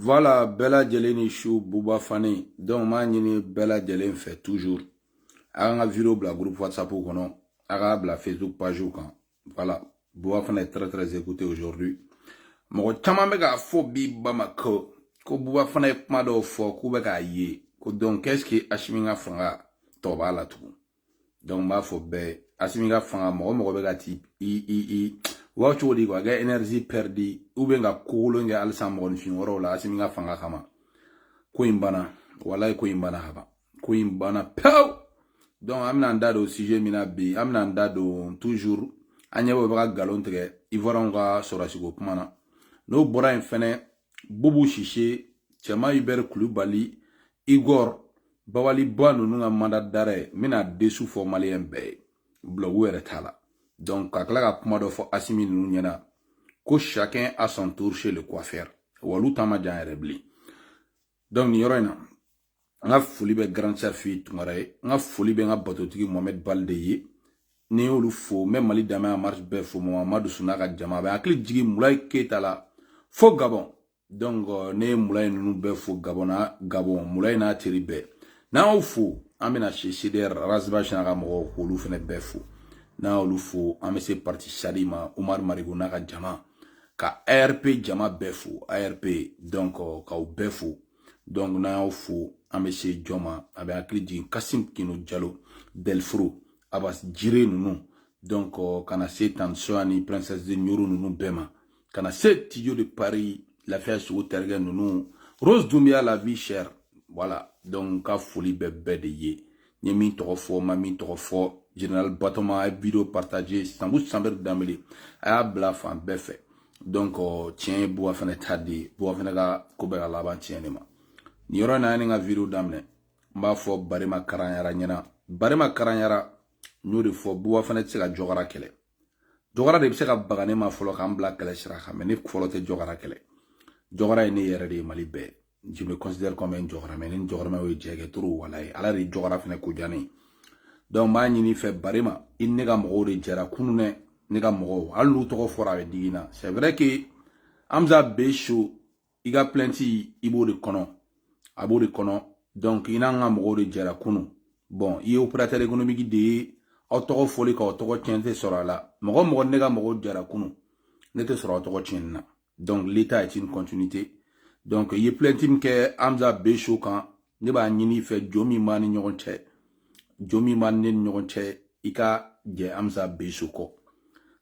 Voilà bɛɛ lajɛlen ni su buba fane donc n b'a ɲini bɛɛ lajɛlen fɛ toujours a k'an ka video bila groupe whatsapp kɔnɔ a k'a bila facebook page kan voilà buba fane ye très très écouté aujourd'hui mɔgɔ caman bɛ k'a fɔ bi bamakɔ ko buba fane ye kuma dɔw fɔ k'u bɛ k'a ye ko donc est ce que asimi ka fanga tɔ b'a la tugun donc n b'a fɔ bɛɛ asimi ka fanga mɔgɔ mɔgɔ bɛ ka ti i i i wa cogo di quoi kɛ énergie perdue ou bien ka kokolon kɛ halisa mɔgɔninfin wɛrɛw la asimi ka fanga kama ko in banna walayi ko in banna ka ban ko in banna pewu donc an bɛna an da don sujet min na bi an bɛna an da don toujours an ɲɛ bɛ ka galon tigɛ ivoiriyɛnw ka sɔrɔdasiko kuma na n'o bɔra yen fɛnɛ bubu sise cɛman ibɛri kulubali igor babali ba ninnu ka mandat d'arrêt n bɛna dessous fɔ maliyɛn bɛɛ ye blague yɛrɛ t'a la donc ka tila ka kuma dɔ fɔ asimi ninnu ɲɛna ko chacun a son tour chez le coiffeur olu ta man jan yɛrɛ bilen donc nin yɔrɔ in na n ka foli bɛ grand chef fi tunkara ye n ka foli bɛ n ka batotigi mohamed balde ye ni n y'olu fo n bɛ mali danbe en marche bɛɛ fo mamadu suna ka jama bɛ hakili jigin mulayi keyita la fo gabɔn donc euh, ne ye mulayi ninnu bɛɛ fo gabɔn na gabɔn mulayi n'a teri bɛɛ n'an y'o fo an bɛna se cdr ras bath n'a ka mɔgɔw k'olu fana bɛɛ fo n'an y'olu fo an bɛ se parti sadi ma umaru mariko n'a ka jama ka arp jama bɛɛ fo arp donc euh, k'aw bɛɛ fo donc n'an y'aw fo an bɛ se jɔn ma a bɛ hakili jigin kasim kino jalo delfro abas jire ninnu donc euh, ka na se tansoya ni princesse de ɲoro ninnu bɛɛ ma ka na se tijo de paris lafiya sogo tarikɛ ninnu rose dumbia la vie chère voilà donc ka foli bɛ bɛɛ de ye n ye min tɔgɔ fɔ n ma min tɔgɔ fɔ general batoma a ye video partage sanbu sanbɛri danbele a y'a bila fan bɛɛ fɛ donc tiɲɛ ye buba fane ta de ye buba fane ka ko bɛɛ ka laban tiɲɛ de ma nin yɔrɔ in na ni ka video daminɛ n b'a fɔ barema karanyara ɲɛna barema karanyara n y'o de fɔ buba fane tɛ se ka jɔgara kɛlɛ jɔgara de bɛ se ka baga ne ma fɔlɔ k'an bila kɛlɛ sira kan mais ne fɔlɔ tɛ jɔgara kɛlɛ jɔgara ye ne yɛrɛ de ye mali bɛɛ je me considère comme un jɔgaramɛ ne ni jɔgaramɛ ye jɛ kɛ trop walayi ala de ye jɔgara fɛnɛ ko diya ne ye donc n b'a ɲini i fɛ barema i ni n ka mɔgɔw de jɛra kunu dɛ ne ka mɔgɔw hali n'u tɔgɔ fɔra a bɛ digi n na c'est vrai que amza be so i ka plainte i b'o de kɔnɔ a b'o de kɔnɔ donc i n'an ka mɔgɔw de jɛra kunu bon i ye opérateur économique de ye aw tɔgɔ fɔli ka aw tɔgɔ tiɲɛ tɛ sɔrɔ a la mɔgɔ mɔgɔ ni n ka mɔgɔw jɛra kunu ne tɛ sɔrɔ aw tɔgɔ tiɲɛni na donc l'état est une continuité donc i ye plainte min kɛ amza be so kan ne b'a ɲini i fɛ jo min b'an ni ɲɔgɔn cɛ jo min b'a ne ni ɲɔgɔn cɛ i ka jɛ amisa besu kɔ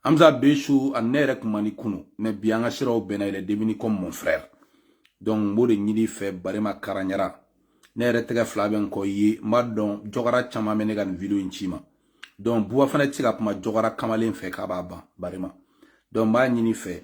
amisa besu ani ne yɛrɛ tun man di kunun mais bi an ka siraw bɛnna yɛlɛ demini kɔ mon frère donc n b'o de ɲini i fɛ barema karanyara ne yɛrɛ tɛgɛ fila bɛ n kɔ ye n b'a dɔn jɔgara caman bɛna nin video in ci i ma donc buba fane tɛ se ka kuma jɔgara kamalen fɛ k'a b'a ban barema donc n b'a ɲini i fɛ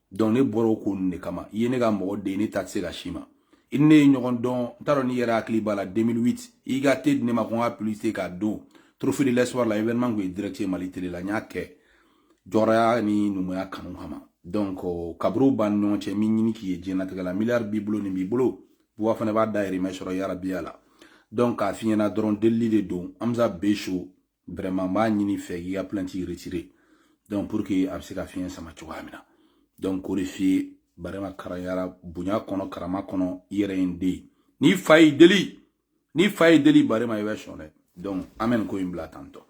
donc ne bɔra o ko ninnu de kama i ye ne ka mɔgɔ de ye ne da tɛ se ka se i ma i ni ne ye ɲɔgɔn dɔn n t'a dɔn n'i yɛrɛ hakili b'a la 2008 i ka te di ne ma ko n ka publicité k'a don trophée de l'espoir la événement tun ye direct ye mali tele la n y'a kɛ jɔrɔya ni numuya kanu kama donc kaburu b'an ni ɲɔgɔn cɛ n m'a ɲini k'i ye diɲɛlatigɛ la miliyari b'i bolo nin b'i bolo buba fane b'a dayirimɛ sɔrɔ yarabi ala donc k'a f'i ɲɛna dɔrɔn delili de don amisa beso vraiment n b'a ɲini i fɛ k'i ka plainte retirer donc pour que a bɛ se ka fiɲɛ sama cogoya min na donc k'o de f'i ye barema karanyara bonya kɔnɔ karama kɔnɔ i yɛrɛ ye n den ye n'i fa y'i deli n'i fa y'i deli barema i bɛ sɔn dɛ donc an bɛ nin ko in bila tantɔ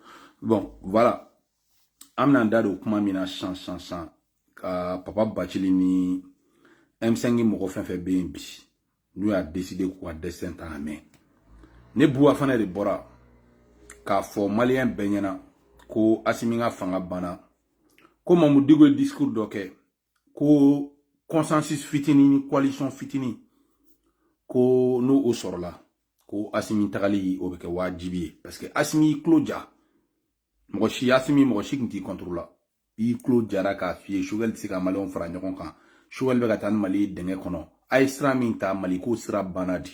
bon voilà an bɛn'an da don kuma min na sisan sisan sisan ka papa bacili ni m5 mɔgɔ fɛn fɛn bɛ yen bi n'u y'a deside k'u ka destin ta en main ne buba fane de bɔra k'a fɔ maliyɛn bɛɛ ɲɛna ko asimi ka fanga banna ko mamudu diko ye discours dɔ kɛ ko consensus fitini ni coalition fitini ko n'o o sɔrɔla ko asimi tagali o bɛ kɛ waajibi ye parce que asimi y'i tulo ja mɔgɔ si asimi mɔgɔ si tun t'i contre la i tulo jara k'a f'i ye sogɛli tɛ se ka maliyɛnw fara ɲɔgɔn kan sogɛli bɛ ka taa ni mali ye dingɛ kɔnɔ a ye sira min ta mali ko sira banna di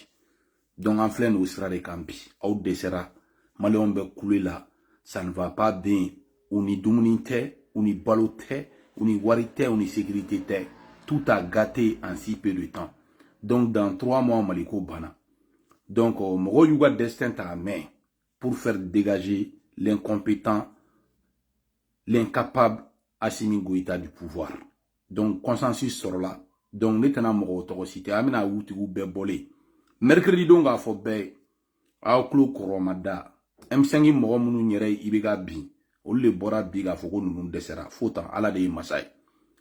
donc an filɛ nin o sira de kan bi aw dɛsɛra maliyɛnw bɛ kule la ça ne va pas bien u ni dumuni tɛ u ni balo tɛ u ni wari tɛ u ni sécurité tɛ tout a gâté en si peu de temps donc dans trois mois mali ko banna donc euh, mɔgɔw y'u ka destin ta en main pour faire dégager l'incompétent, l'incapable Assimi Goïta du pouvoir. Donc, consensus sɔrɔla. Donc, ne tɛna mɔgɔw tɔgɔ citer an bɛna u tigiw bɛɛ bɔlen mercredi don k'a fɔ bɛɛ aw tulo kɔrɔma da m5 mɔgɔ minnu yɛrɛ y'IBK bin olu de bɔra bi k'a fɔ ko ninnu dɛsɛra fo tan ala de ye masa ye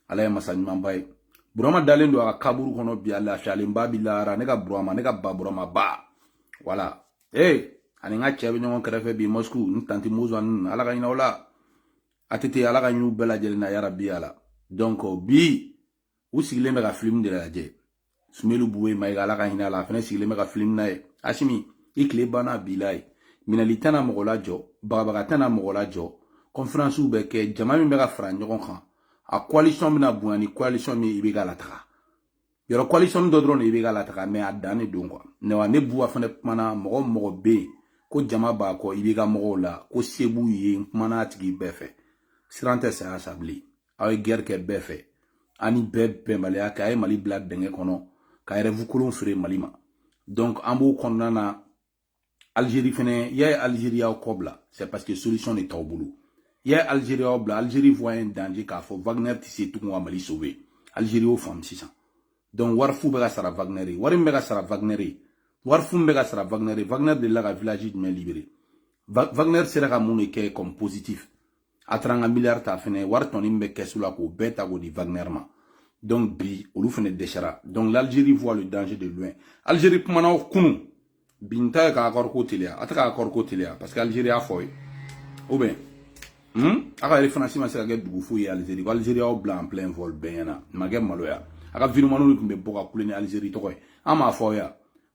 ala ye masa ɲumanba ye burama dalen don a ka kaburu kɔnɔ bi a lafiyalenba bi lahara ne ka burama ne ka ba burama ba wala ee ani n ka cɛ bɛ ɲɔgɔn kɛrɛfɛ bi mɔsiku n tanti mozo ani ala ka hinɛ o la a tɛ ten ala ka hin'u bɛɛ lajɛlen na yarabi ala donc bi u sigilen bɛ ka filimu de lajɛ sumeyilu bubɛyi mayiga ala ka hinɛ a la a fana sigilen bɛ ka filimu lajɛ asimi i tile banna a bila yen minɛli tɛna mɔgɔ lajɔ bagabaga tɛna mɔgɔ lajɔ kɔnferansiw bɛ kɛ jama min bɛ ka fara ɲɔgɔn kan a coalition bɛna bonya ni coalition min i bɛ ka lataga yɔrɔ coalition dɔ dɔrɔn de i bɛ ka lataga mɛ a dan de don kuwa ne wa ne buwa fana kumana mɔgɔ mɔgɔ bɛ yen ko jama b'a kɔ i b'i ka mɔgɔw la ko se b'u ye n kumana a tigi bɛɛ fɛ siran tɛ saya sa bilen aw ye gɛrɛ kɛ bɛɛ fɛ ani bɛɛ bɛnbaliya kɛ a ye mali bila dingɛ kɔnɔ ka rɛvu kolon feere mali ma donc an b'o kɔnɔna na algérie fɛnɛ y'a ye algérie y'aw kɔ bila c'est parce que solution de t'aw bolo y'a ye algérie y'aw bila algérie voyait un danger k'a fɔ wagner tɛ se tugun ka mali sauver algérie y'o faamu sisan donc wari fu bɛ ka sara wagner ye wari min bɛ ka sara wagner ye wari fu min bɛ ka sara wagner ye wagner delila ka village jumɛn libere wagner sera ka mun de kɛ comme positif a taara an ka miliyari ta fɛnɛ wari tɔnin min bɛ kɛsu la k'o bɛɛ ta k'o di wagner ma donc bi olu fɛnɛ dɛsɛra donc l'algérie voit le danger de loin algérie kumana o kunun bi n ta ye ka accord ko teliya a tɛ ka accord ko teliya parce que algérie y'a fɔ ye ou bien hmm? a ka refanasi ma se ka kɛ dugu foyi ye algérie ko algérie y'aw bila en plein vol bɛɛ ɲɛna ma kɛ maloya a ka videomaniw de tun bɛ bɔ ka kule ni algérie tɔgɔ ye an m'a fɔ aw ye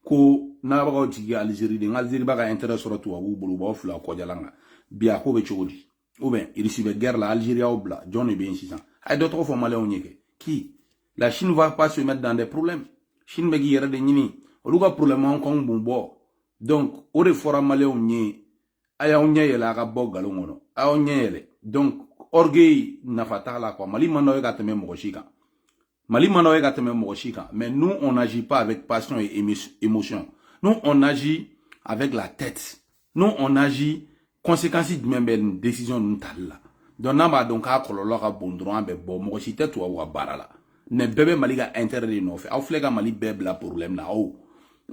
ko nabagaw jigi alizeri dɛ nka alizeri b'a ka intérêt sɔrɔ tubabuw bolo u b'aw fili kɔjalan kan bi a ko bɛ cogo di ou bien irisi bɛ guerre la alizeri y'aw bila jɔn de bɛ yen sisan a ye dɔ tɔgɔ fɔ maliyɛnw ye kɛ qui la chine va pas se mettre dans des problèmes chine bɛ k'i yɛrɛ de ɲini olu ka problème an k'anw b'u bɔ donc o de fɔra maliyɛnw ye a y'aw ɲɛ yɛlɛ a ka bɔ nkalon kɔnɔ a y'aw ɲɛ yɛlɛ donc orgueil nafa t'a la quoi mali man d'aw ye ka tɛmɛ mɔgɔ si kan Mali man d'aw ye ka tɛmɛ mɔgɔ si kan mais nous on n'agit pas avec passion et émotion nous on agit avec la tête nous on agit conséquence jumɛn bɛ nin décision ninnu tali la donc n'an b'a dɔn k'a kɔlɔlɔ ka bon dɔrɔn an bɛ bɔ mɔgɔ si tɛ tubabu ka baara la mais bɛɛ bɛ mali ka intérêt de nɔfɛ aw filɛ ka mali bɛɛ bila problème na aw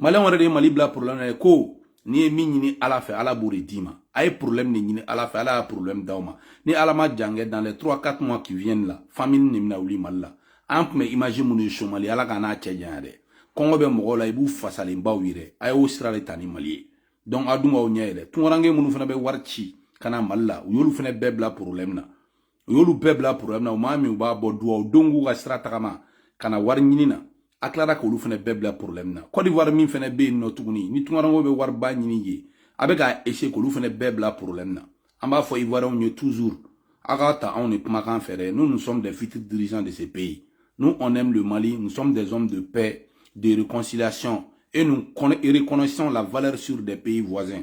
maliyɛnw yɛrɛ de ye mali bila problème na ye ko n'i ye min ɲini ala fɛ ala b'o de d'i ma a ye problème de ɲini ala fɛ ala y'a problème d'aw ma ni ala ma jankɛ dans les 3 4 mois qui viennent la famine de bɛna wuli mali la an tun bɛ image minnu ye somali ala k'an n'a cɛ janya dɛ kɔngɔ bɛ mɔgɔw la i b'u fasalenbaw ye dɛ a y'o sira de ta ni mali ye donc a dun b'aw ɲɛ yɛlɛ tunkaranke minnu fana bɛ wari ci ka na mali la u y'olu fana bɛɛ bila problème na u y'olu bɛɛ bila porobilɛmu na u maa minnu ba bɛ duwawu don k'u ka sira tagama ka na wari ɲini na a tilara k'olu fana bɛɛ bila porobilɛmu na kɔdiwari min fana bɛ yen nɔ tuguni ni tunkaranke bɛ wariba ɲini ye a bɛ k'a eseye k'olu fana bɛɛ bila porobilɛmu na an b'a fɔ ivoiriyɛnw ye toujours a ka taa anw de kumakan fɛ dɛ nous nous sommes des futurs dirigeants de ce pays nous on aime le mali nous sommes des hommes de paix de réconciliation et nous reconnaissons la valeur sûre des pays voisins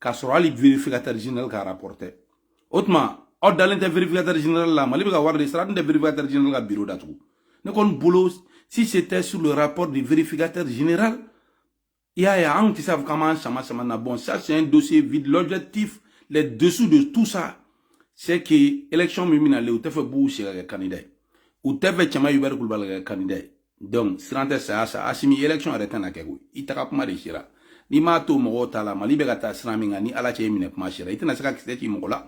k'a sɔrɔ hali vérificateur général ka rapport tɛ o tuma aw dalen tɛ vérificateur général la mali bɛ ka wari de sara dun tɛ vérificateur général ka bureau datugu ne kɔni bolo si c'était sur le rapport du vérificateur général i y'a ye anw tɛ se k'a fɔ k'an b'an sama sama na bon ça c'est un dossier vide l'objectif les dessous de tout ça c'est que élection min bɛna le u t'a fɛ bubu sise ka kɛ candidat ye u t'a fɛ cɛman yubɛri kulubali ka kɛ candidat ye donc siran tɛ saya sa asimi election yɛrɛ tɛna kɛ koyi i taga kuma de sera n'i m'a to mɔgɔw ta la mali bɛ ka taa sira min kan ni ala cɛ i minɛ kuma sera i tɛna se ka kisɛ ci mɔgɔ la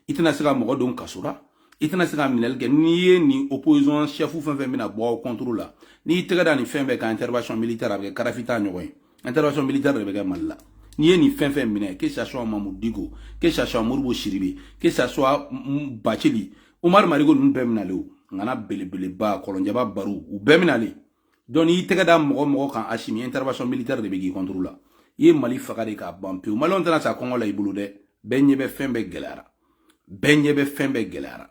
i tɛna se ka mɔgɔ don kaso la i tɛna se ka minɛli kɛ n'i ye nin opposition chef fɛn o fɛn bɛna bɔ aw contre la n'i y'i tɛgɛ da nin fɛn bɛɛ kan intervention militaire a bɛ kɛ kadafi ta ɲɔgɔn ye intervention militaire de bɛ kɛ mali la n'i ye nin fɛn o fɛn minɛ que ça soit mamudu diko que ça soit modibo sidibe que ça soit bacili umar mariko ninnu bɛɛ minale o ŋana belebeleba kɔlɔnjaba baro u bɛɛ minale donc n'i tɛgɛ da mɔgɔ o mɔgɔ kan asimi intervention militaire de bɛ k'i contre la i ye mali faga de k'a ban pewu maliyɛnw tɛna sa kɔngɔ la i bolo dɛ bɛɛ ɲɛ bɛ fɛn bɛɛ gɛlɛyara bɛɛ ɲɛ bɛ fɛn bɛɛ gɛlɛyara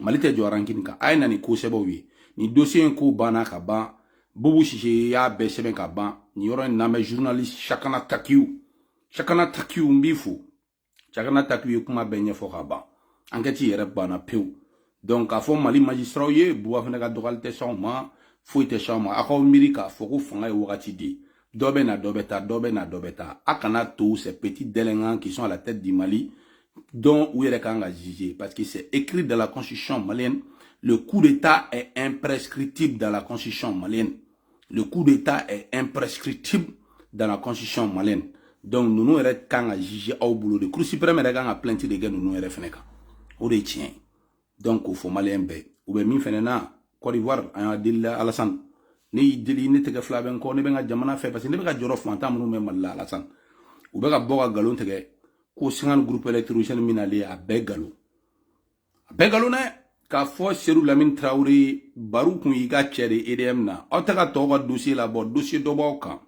mali tɛ jɔ rankini kan a ye na ni ko sɛbɛw ye nin dosiye in ko banna ka ban bubu sise y'a bɛɛ sɛbɛn ka ban nin yɔrɔ in lamɛn journaliste shahana takiyu shahana takiyu n b'i fo shahana takiyu ye kuma bɛɛ ɲɛfɔ ka ban ankɛti yɛrɛ banna pewu donc k'a fɔ mali majisitaraw ye buba fane ka dɔgɔli tɛ s'anw ma foyi tɛ s'anw ma aw k'aw miiri k'a fɔ ko fanga ye wagati de ye dɔ bɛ na dɔ bɛ taa dɔ bɛ na dɔ bɛ taa a kana to ces petits délinquants qui sont à la tête du Mali donc u yɛrɛ kan ka juger parce que c'est écrit dans la constitution malienne le coup d'état est imprescriptible dans la constitution malienne le coup d'état est imprescriptible dans la constitution malienne donc ninnu yɛrɛ kan ka juger aw bolo de cour suprême yɛrɛ kan ka plainte de kɛ ninnu yɛrɛ fɛnɛ kan o de ye tiɲɛ ye donc k'o fɔ maliyɛn bɛɛ u bɛ min fɛnɛ na côte d'ivoire an y'a deli la alasani ne y'i deli ne tɛgɛ fila bɛ n kɔ ne bɛ n ka jamana fɛ parce que ne bɛ ka jɔrɔ fantan minnu bɛ mali la alasani u bɛ ka bɔ ka nkalon tigɛ ko cinquante groupe électrogène min nalen a bɛɛ nkalon a bɛɛ nkalon dɛ k'a fɔ seyidu lamini tarawele baro kun y'i ka cɛ de edm na aw tɛ ka tɔw ka dossier labɔ dossier dɔ b'aw kan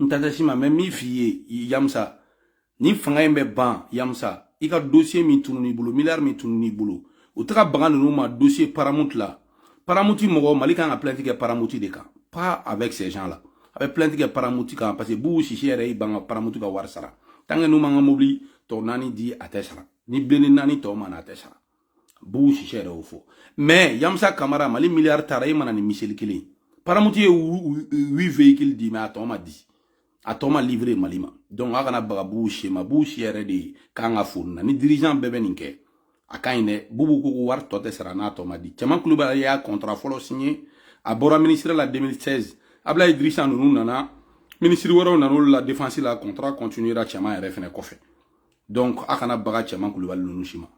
n tantasi ma mɛ min f'i ye yamusa ni fanga in bɛ ban yamusa i ka dosiye min tunun'i bolo miliyari min tunun'i bolo u taga bagan ninnu ma dosiye paramuti la paramuti mɔgɔ mali kan ka plainti kɛ paramuti de kan pas avec ces gens là a bɛ plainti kɛ paramuti kan parce que bubu sise yɛrɛ y'i ban ka paramuti ka wari sara tant que n'u m'an ka mobili tɔ naani di a tɛ sara ni blindé naani tɔ ma na a tɛ sara bubu sise yɛrɛ y'o fɔ mɛ yamusa kamara mali miliyari taara a ma na ni miseli kelen ye paramuti ye huit veyikili di mɛ a tɔ ma di a tɔ ma livre mali ma donc a kana baga bubu sise ma bubu sise yɛrɛ de ka kan ka fo nin na ni dirigeant bɛɛ bɛ nin kɛ a ka ɲi dɛ bubu ko ko wari tɔ tɛ sara n'a tɔ ma di cɛman kulubali y'a kɔntara fɔlɔ siɲɛ a bɔra minisiri la 2016 ablayi dirisa ninnu nana minisiri wɛrɛw nana olu la defansi la kɔntara kɔntinuyera cɛman yɛrɛ fɛnɛ kɔfɛ donc a kana baga cɛman kulubali ninnu si ma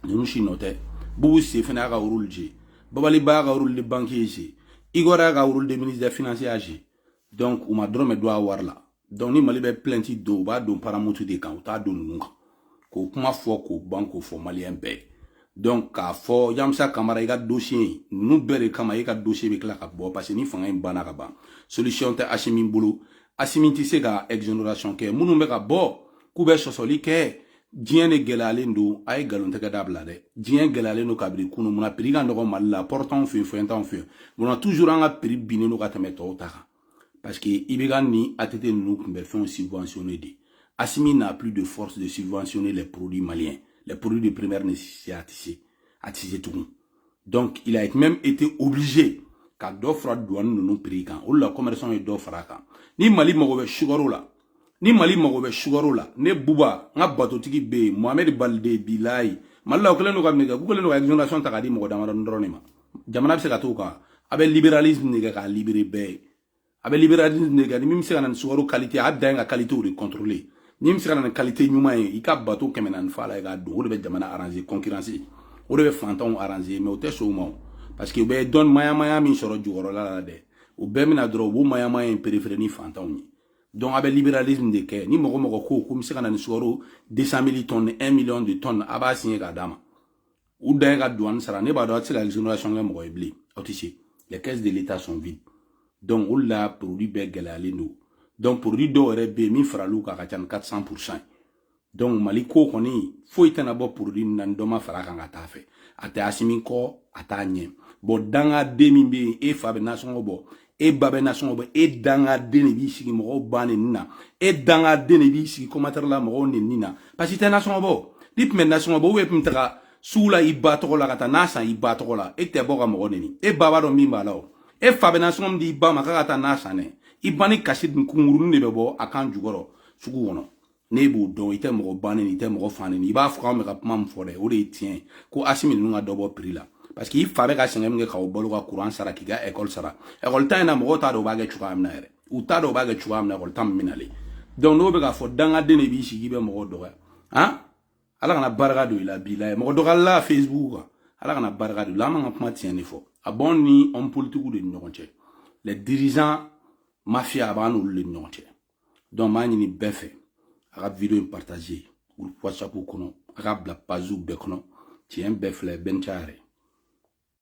ninnu si nɔ tɛ bubu sise fana y'a ka rôle jouer babali ba y'a ka rôle de banquier jouer igor y'a ka rôle de ministre des finances y'a jouer donc u ma dɔrɔmɛ dun a wari la donc ni mali bɛ plainte don u b'a don paramutu de kan u t'a don ninnu kan k'o kuma fɔ k'o ban k'o fɔ maliyɛn bɛɛ ye donc k'a fɔ yamusa kamara i ka dossier ninnu bɛɛ de kama e ka dossier bɛ tila ka bɔ parce que ni fanga in banna ka ban solution tɛ asimi bolo asimi tɛ se ka exonération kɛ minnu bɛ ka bɔ k'u bɛ sɔsɔli kɛ diɲɛ de gɛlɛyalen don a ye nkalontigɛ dabila dɛ diɲɛ gɛlɛyalen don kabiri kunu munna prix ka nɔgɔ mali la port t'an fɛ yen fɛn t'anw fɛ yen munna toujours an ka prix binnen don ka tɛmɛ tɔw ta kan Parce que IBK ni ATT ninnu tun bɛ fɛnw subventionné de. Asimi n'a plus de force de subventionner les produits maliens. Les produits de première nécessité a tɛ se, a tɛ se tugun. Donc, il a même été obligé ka dɔ fara douane ninnu prix kan o de la commerçant ye dɔ fara kan ni mali mago bɛ sukaro la ni mali mago bɛ sugaro la ne buba n ka batotigi bɛ yen mohamɛdi balide bilayi mali la u kɛlen don ka min kɛ k'u kɛlen don ka exonération ta ka di mɔgɔ damadɔni dɔrɔn de ma jamana bɛ se ka t'o kan a bɛ libéralisme de kɛ k'a libéré bɛɛ ye a bɛ libéralisme de kɛ ni min bɛ se ka na ni sugaro qualité a dan ye ka qualité de contrôler ni min bɛ se ka na ni qualité ɲuman ye i ka bato kɛmɛ naani fa la i k'a don o de bɛ jamana arranger concurrence o de bɛ fantanw arranger mais u tɛ sɔn o ma o parce que u bɛ dɔn mayamaya min sɔrɔ jukɔrɔla la dɛ o bɛɛ bɛna dɔrɔn u b'o mayamaya in perefere ni fantanw ye donc a bɛ libéralisme de kɛ ni mɔgɔ o mɔgɔ ko ko n bɛ se ka na ni sukaro 200 mille tonnes 1 million de tonnes a b'a signé k'a d'a ma u dan ye ka douane sara ne b'a dɔn a tɛ se ka exonération kɛ mɔgɔ ye bilen aw tɛ se les caisses de l'état sont vides donc o de la produit bɛɛ gɛlɛyalen don donc produit dɔw yɛrɛ bɛ yen min faral'u kan a ka ca ni 400 pourcent ye donc mali ko kɔni foyi tɛna bɔ produit na ni dɔ ma fara kan ka taa a fɛ a tɛ asimi kɔ a t'a ɲɛ bɔn dangaden min bɛ yen e fa bɛ nasɔngɔ bɔ e ba bɛ nasɔngɔ bɔ e dangaden de b'i sigi mɔgɔw ba neni na e dangaden de b'i sigi commentaire la mɔgɔw neni na parce que i tɛ nasɔngɔ bɔ n'i tun bɛ nasɔngɔ bɔ ou bien i tun bɛ taga sugu la i ba tɔgɔ la ka taa na san i ba tɔgɔ la e tɛ bɔ ka mɔgɔ neni e ba b'a dɔn min b'a la o e fa bɛ nasɔngɔ min di i ba ma k'a ka taa na san dɛ i ba ni kasi dun kunkurunin de bɛ bɔ a kan jukɔrɔ sugu kɔnɔ ne b'o dɔn i tɛ mɔgɔ ba nɛni i tɛ mɔgɔ fa nɛni i b'a fɔ an bɛ ka kuma min fɔ dɛ o de ye tiɲɛ ye ko asimi ninnu ka dɔ bɔ prix la parce que i fa bɛ ka sɛgɛn min kɛ k'aw balo ka kuran sara k'i ka ekɔli sara ekɔli ta in na mɔgɔw t'a dɔn u b'a kɛ cogoya min na yɛrɛ u t'a dɔn u b'a kɛ cogoya min na ekɔli ta min minalen donc n'o bɛ k'a fɔ dangaden de b'i sigi bɛ mɔgɔ dɔgɔya han ala kana barika don i la b'i la ye mɔgɔ dɔgɔyalila facebook kan ala kana barika don i la an bɛ ka kuma tiɲɛ de fɔ a b'anw ni homme politiques de ni ɲɔgɔn cɛ les dirigeants mafia a b'an n'olu de ni ɲɔgɔn cɛ donc m'a ɲini bɛɛ fɛ a ka video in partage groupe whatsapp kɔnɔ a k'a bila pagew bɛɛ kɔnɔ tiɲɛ bɛɛ filɛ bɛɛ ni ca yɛrɛ